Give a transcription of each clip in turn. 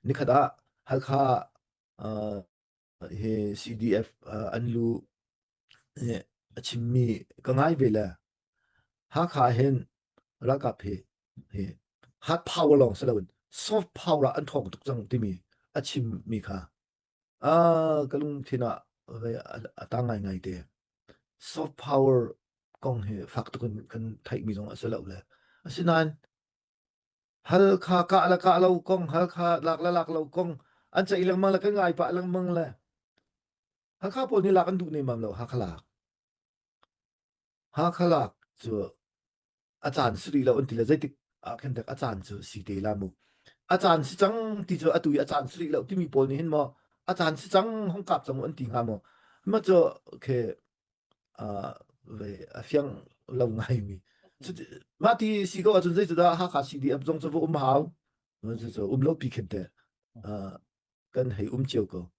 Nikhat ah Halkha ah hi CDF an lu a chimmi ka ngai ve le Hakha hin ralkap hi hi hard power lawng si loin soft power ah an thawng tuk cang timi a chimmi kha a ka lungthin ah a tang ngai ngai te soft power kong hi fak tuk in kan theihmi zong a si lo le asinain Halkha kah le kah lo kong, Halkha lak le lak lo kong an ceih lengmang le kan ngai pah lengmang le Hakha pawl nih lak an duh nemmam lo Hakha lak. Hakha lak cu a caan si rih lo an ti le zeitik ahkhin dek a caan cu si te la mu. A caan si cang ti cu atu i a caan si rih lo timi pawl nih hin maw a caan si cang hong kap cang an ti hnga maw. Ma cu okay ah ve a fiang lo ngaimi. Cuti mah ti si ko ahcun zeicadah Hakha CDF zong cu va um hau. Cucu um lo pi khin te. Ah, kan hei um cio ko.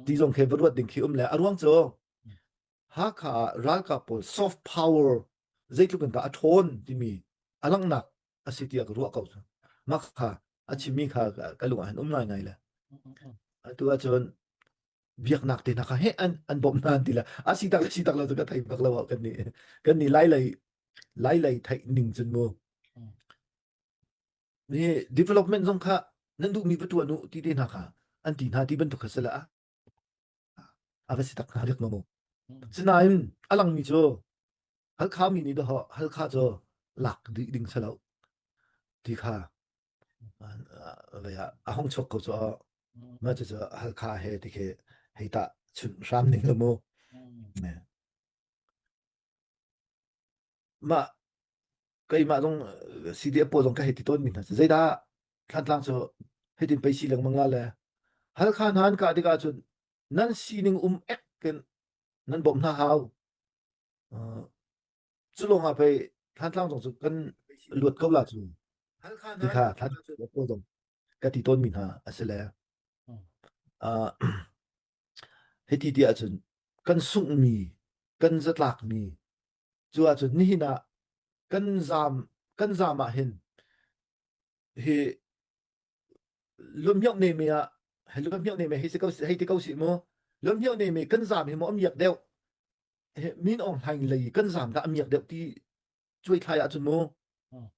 Ti zong khi va ruat ding khi um le. A ruang cu Hakha ralkap pawl soft power zeitluk in dah a ṭhawn timi a langnak a si tiah ka ruah ko mak kha a chimmi kha ka lung ah han um ngaingai le atu ah cun biaknak te hna kha he an an bawm hna an ti la a si tak si tak lo cu ka thei bak lo kan ni kan ni lai lei lai lei theih ning cun mu ni development zong kha nan duhmi va tuah nu ti te hna kha an ti hna ti bantuk kha sala a va si tak hna riak maw sinain a langmi cu halkha mi nih dawh halkha cu lak dih ding selo ti kha vaya a hong chok ko cu ma cu cu halkha he ti khi hei ta chun hram ning le mu Mah keimah zong eh, CD a pawl zong ka hei ti tawnmi hna cu. Zeidah Thantlang cu hitin pei si lengmang la le Halkha hna an kah tikah cun nan sining um ek in nan bawmh hna hau. Uh, cu lawngah pei Thantlang zong cu kan luat ko la cu. Ti kha Thantlang cu a pawl zong ka ti tawnmi hna a si le uh, hiti ti ahcun kan sunghmi, kan zatlakmi Cu ahcun nihin ah kan zaam kan zaam ah hin hi lumhioh ne me ah he lumhioh ne me hei si ko hei ti ko si mu lumhioh ne me kan zaam hi mu amiak deuh min ong hlaing lei kan zaam ga amiak deuh ti cuai thlai ahcun mu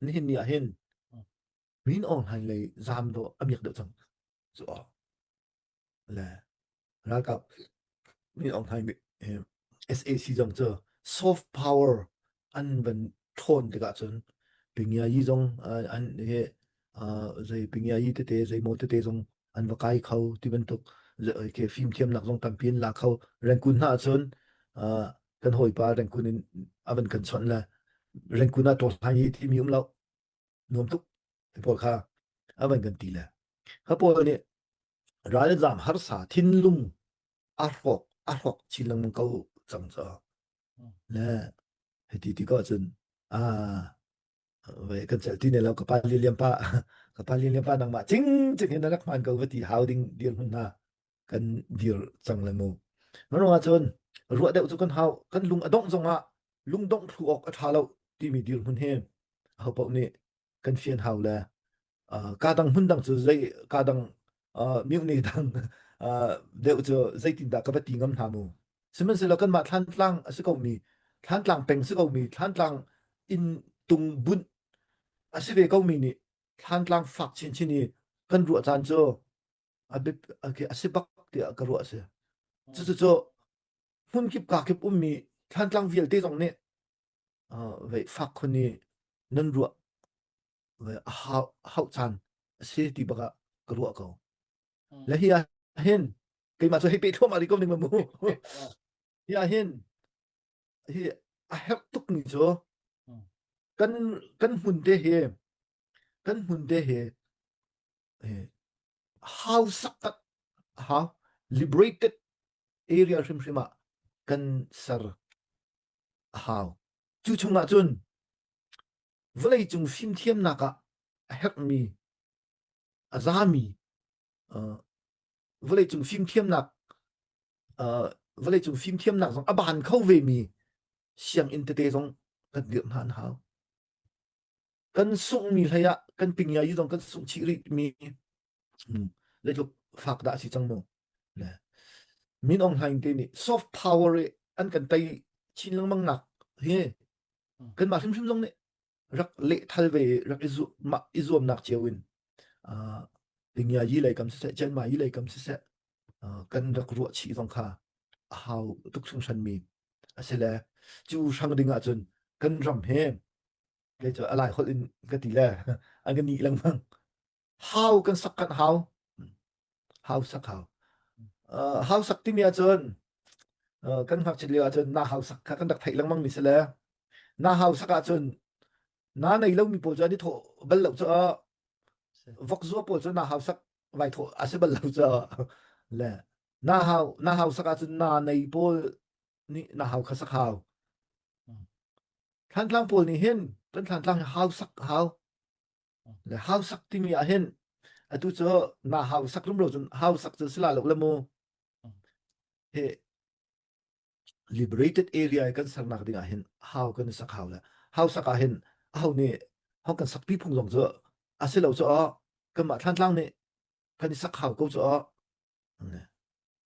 nihin ni ah hin min ong hlaing lei zaam do amiak deuh cang cu le ralkap mi Aung Hlaing eh, SAC zong cu soft power an van thlawn tikah cun pingiayi zong uh, an he uh, zei pingiayi tete zei mo tete zong an va kai kho ti bantuk ke fim thiamnak zong tampi in la kho rengkun hna cun uh, kan hawipa rengkun in avan kan chon le rengkun ah to hlai ti mi um lo nuam tuk ti pawl kha a van kan ti le ka pawl nih ralzam harsa thinlung a hrawk a hrawk chin lengmang ko cang cu le hiti ti ko cun a ve kan cel ti ne lo ka pa lian pa ka pa lian pa nangmah cing cing in na rak hman ko va ti hau ding dir mun hna kan dir cang le mu. Mano ahcun ruah deuh cu kan hau kan lung a dongh zongah lung dongh phu awk a tha lo timi dir hmun hi ho paoh nih kan fian hau le uh, ka dang hmun dang cu zei ka dang uh, miukni dang uh, deuh cu zeitin dah ka va ti ngam hna mu sihmanhsehlaw kanmah thlantlang a si komi thlantlang peng si komi thlantlang in tung bunh a si ve komi nih thlantlang fak chinchin i kan ruah caan cu A bit okay, a si bak tiah ka ruah a si. Cucucu hmun kip ka kip ummi thlantlang vialte zong nih uh, vei fak khun i nan ruah ve a hau, hau caan a si ti baka ka ruah ko. Le hi ah hin keimah cu hei pe thuam ali kom ding ma mu. hi ah hin hi a herh tuk ni cu kan kan hmun te hi kan hmun te hi how sakat how liberated area hrimhrim ah kan ser a hau cu chungah cun vawlei cung fimthiamnak ah a herhmi a zami vawlei cung fimthiamnak vawlei cung fimthiamnak zong a ban kho vemi sianginn tete zong kan dirh hna an hau kan sunghmi hlei ah kan pingiai i zong kan sungh chih rih mi hmm, le tluk fak dah si cang mu ne min ong hlaing te nih soft power i an kan tai chin lengmang nak hi kan mah hrimhrim zong nih rak le thal ve rak izu ma izuam nak cio in uh, pingiai yi lei kam se chen ma yi lei kam se se uh, kan rak ruwa chi zong kha a hau tuk sung shan mi asele chu sang ding ah cun kan ram he Kei cu a lai holh in ka ti le an ka nih lengmang. How kan sak kan how. How sak how. Uh, how sak timi ahcun uh, kan ngakchit lio ahcun na hau sak kha kan rak theih lengmang mi si le na hau sak ahcun na nei lomi pawl cu an i thawh bal lo caah vok zuwa pawl cu na hau sak vai thawh a si bal lo caah le na hau na hau sak ahcun na nei pawl nih na hau kha sak hau thlantlang pawl nih hin kan thlantlang hau sak hau le hau sak timi ah hin atu cu na hau sak lum lo cun hau sak cu sila lo le mu he liberated area kan sernak ding ah hin hau kan sak hau le hau sak ah hin hau nih hau kan sak pi phung zong cu asilo cu kan mah thlantlang nih kan i sak hau ko cu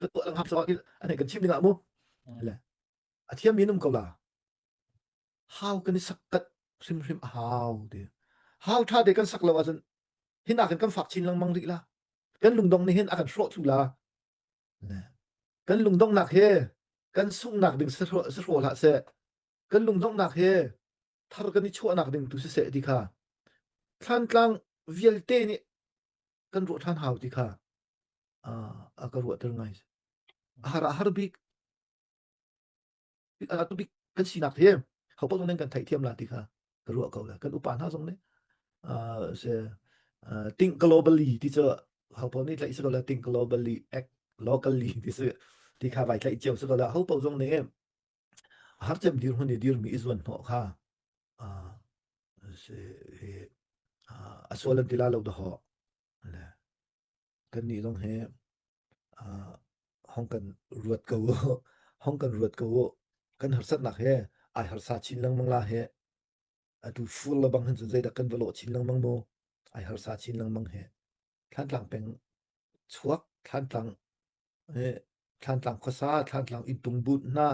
Ka tuah lang hap so ahhin an hei kan chim ding ah mu. Le a thiam mi an um ko la. How kan i sakkat hrimhrim a hau ti. Hau tha te kan sak lo ahcun hin ah kan kan fak chin lengmang rih la. Kan lungdong nih hin a kan hrawh thlu la. Le kan lungdongnak he kan sungnak ding sahrawh hlah seh. Kan lungdongnak he thar kan i chuahnak ding tu siseh ti kha. Thlantlang vialte nih kan ruah ṭhan hau ti kha a a ka ruahter ngai. A har a har bik a tu bik kan sinak hi hopat zong kan theihthiam la ti kha ka ruah ko le kan upa hna zong nih uh, se uh, think globally ti cu hopo nih tlaih se ko la think globally act locally ti su ti kha vai tlaih cio se ko la hopo zong nih Harcem dirhmun i dirmi i zuan hnawh kha a sual an ti la lo da ho le kan nih zong hi hong kan ruat ko hong kan ruat ko kan harsatnak he ai harsa chin lengmang la he atu fur la bang han cu zeidak kan va lawh chin lengmang mo ai harsa chin lengmang he thlan tlang peng chuak thlan tlang Thlantlang khuasa, Thlantlang inntung bunh hna,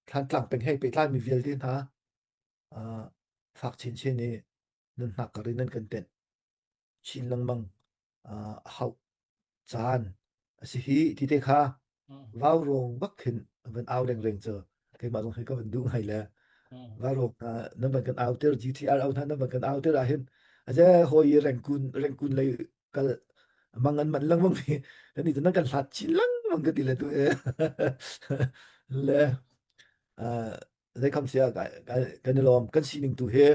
Thlantlang penghei pehtlaimi vialte hna fak chinchin i nunnak kar in an kan tenh chin lengmang a hauh caan a si hi ti te kha vaurong bak khin van au rengreng cu keimah zong hi ka van duh ngai le vaurong hna nan van kan auter GTR au hna nan van kan auter ahhin a je hawi i rengkun rengkun lei kal mangan man lengmang mi kan ni nan kan hlat chin lengmang ka ti le tu e le uh, dai kam sia ka kan i lom kan sining tu he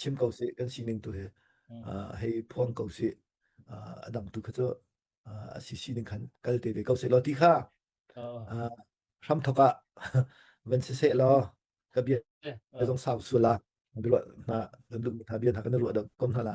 chim ko si kan sining tu he uh, hei phuang ko si uh, adang tu kha chu uh, si sining khan kal te ve ko se lo ti kha uh, ram thoka van se se lo ka bia zong sau sula bilo na na lu na bia na kan lu da kom hala